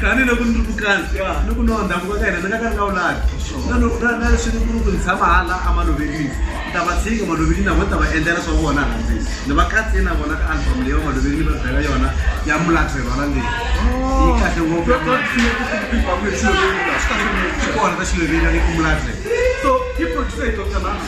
tani loko ni ri mukana ni ku nonda muka ka hina ni nga ka ni nga wulaki na leswi ni ku ni ku ni tshama hala emalovelini ni ta va tshinga malovelini na vona ta va endlela swa vona hansi ni va katsini na vona ka album leyi va malovelini va bela yona ya mulatho hi rona leyi yi kahle ngopfu kona ta xiloveli ya le ku mulatho so yi producer hi dr lana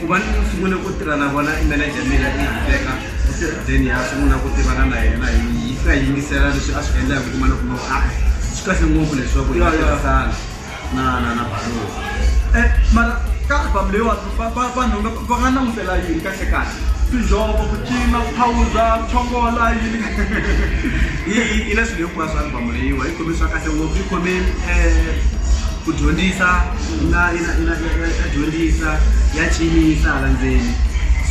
Ku va ni sungule ku tirha na vona i manager ya mina i Rebecca u te then ha sungula ku tivana na yena hi hi fika hi yingisela leswi a swi endla hi ku kuma loko a swi kahle ngopfu leswaku hi nga tirhisana na na na Baloo Eh, mara ka album leyiwani va- va- vanhu nga- va nga langutela yini kahle kahle tinjhovo ku cina ku phawuza ku chongola yini yi yi- yi na swilo hinkwaswo album leyiwa yi khome swa kahle ngopfu yi khome um Ku dyondzisa na na na ya dyondzisa ya cinisa hala ndzeni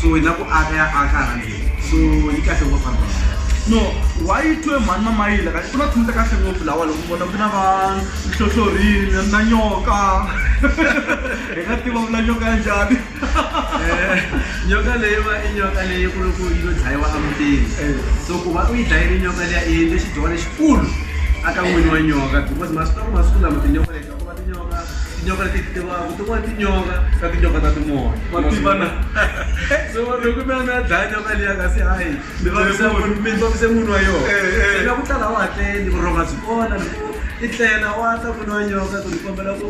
so na ku aka ya aka hala ndzeni so yi kahle ngopfu vanhu va no why you twe mhani mamayila kahle ku na thunta kahle ngopfu lawa loko vona ku na va nhlohlorini na nyoka hi nga tiva vula nyoka ya njhani nyoka leyiwa i nyoka leyi ku ri ku yi lo dlayiwa emutini so ku va u yi dlayile nyoka liya i endle xidyoho lexikulu aka n'wini wa nyoka because masiku lama masiku lama tinyoka leti ku va tinyoka tinyoka leti tivaku tin'wana tinyoka ka tinyoka ta timoya wa tivana so loko mi a mi ya dlaya nyoka liya kasi hayi mi vavisa munhu mi vavise munhu wa yona se na ku tala a wu hatleli vurhonga byi kona loko i tlela wa ta n'wini wa nyoka ku ni kombela ku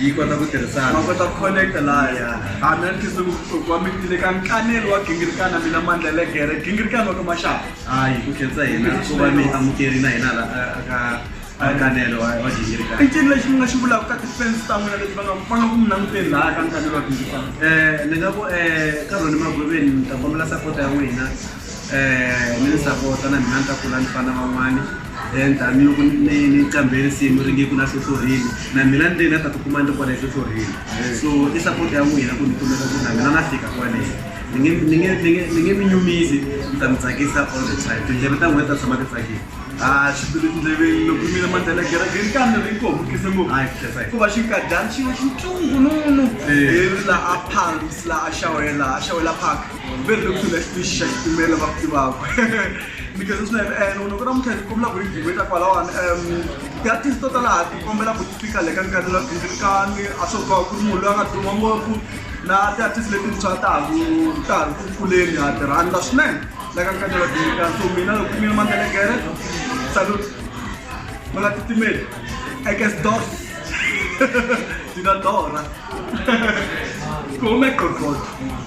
yi kota ku tirhisana ma kota ku connect laya hambi a ni khisile vuhloko wa mitile ka nkanelo wa gingirikana mina mandla ya le gere gingirikana wa ka maxaka hayi ku khensa hina ku va mi amukeri na hina la a- aka akanelo wa wa gingirikana i ncini lexi mi nga xi vulaka ka tifensi ta n'wina leti va nga va nga ku mi languteni laya ka nkanelo wa gingirikana Eh, ni nga ku eh, ka rhoni magwiveni ni ta kombela sapota ya n'wina ni ni sapota na mina ni ta kula ni fana na van'wani then tanihiloko ni ni qambhe risimu ri nge ku na hlohlorile na mina ni te ni nga ta tikuma ni ri kwale hlohlorile so i sapota ya n'wina ku ni kumeka ku na mina na fika kwale ni nge ni nge ni nge ni nge mi nyumisi ni ta mi tsakisa all the time tindleve ta n'wina ti ta tshama ti tsakile a swi tele tindleveni loko mina mandlela kerekeni kambe ri ko mukise ngopfu hayi khesa hikuva xinkadyana xi xintungununu laha palms laha a xawela a xawela park very looks to left fish shake to mela ba pti babo because it's not and uno kona muthe kumla ku video eta kwala wan um ya tis tota la ti kombela ku speaker le kan kan la tin kan aso ka ku mu la tu mambo ku na ti artist le tin sa ta ku ta ku kule ni ha tera anda sne la kan kan la tin kan so mina ku mina man tele kere salut mala ti timel I guess dos Dina Dora. Come è qualcosa?